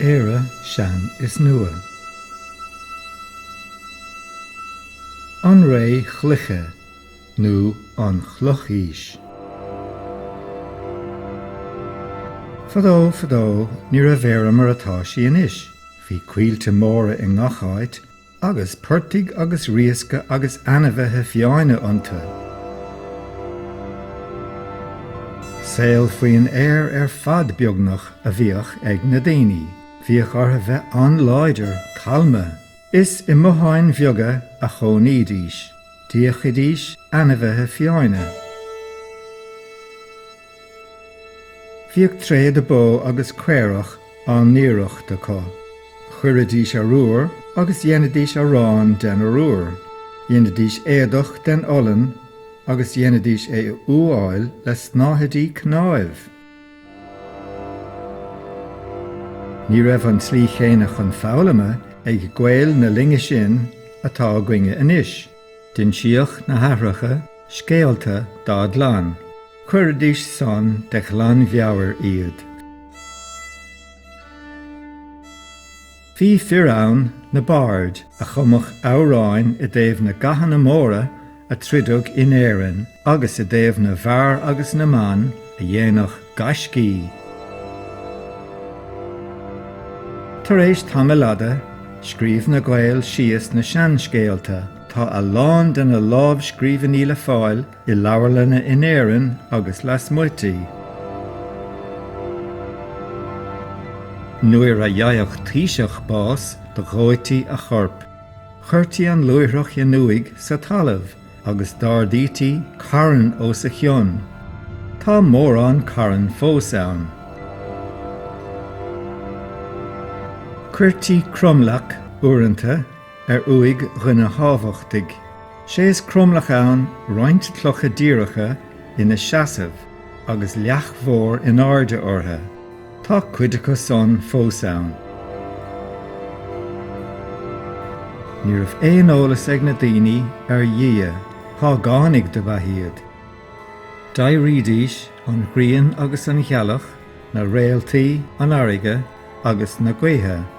Éire, sean is nua. An ré chloiche nó an chlochaois. Fadó, fadó, ní raibh Éire mar atá sí anois. Bhí coillte móra i ngach áit. Agus portaigh agus riasca agus ainmhithe fiáine iontu. Saol faoin aer ar fad beagnach a bhíodh ag na daoine. Bhíodh orthu bheith an-láidir, calma. Is i mbotháin bheaga a chónaídís. D'fhiachaidís ainmhithe fiáine. Bhíodh tréada bó agus caorach á n-aoireacht acu. Chuiridís arbhar agus dheinidís arán den arbhar. Dheinidís éadach den olainn agus dheinidís é a fhuáil le snáthaidí cnáimh. Ní raibh an tslí chéanna chun foghlama ag Gaeil na linne sin atá againne anois. D'insíodh na haithreacha scéalta dá gclann, chuiridís san de ghlanmheabhair iad. Bhí fir ann, na baird, a chumadh amhráin i dtaobh na gcathanna móra a troideadh in Éirinn agus i dtaobh na bhfear agus na mban a dhéanadh gaiscí. Tar éis tamaill fhada, scríobh na Gaeil síos na seanscéalta. Tá a lán de na lámhscríbhinní le fáil i leabharlanna in Éirinn agus lasmuigh di. Nuair a gheibheadh taoiseach bás, do dhóití a chorp. Chuirtí an luaithreach in uaigh sa talamh. agus d'ardaítí carn os a chionn, tá mórán carn fós ann. Chuirtí cromleac, uaireanta, ar uaigh dhuine thábhachtaigh, sé is cromleac ann roinnt clocha díreacha ina seasamh agus leac mhór in airde orthu. Tá cuid acu san fós ann. Ní raibh aon eolas ag na daoine ar Dhia, págánaigh dob ea iad. D'adhraidís an ghrian agus an ghealach, na réaltaí, an fharraige agus na gaotha.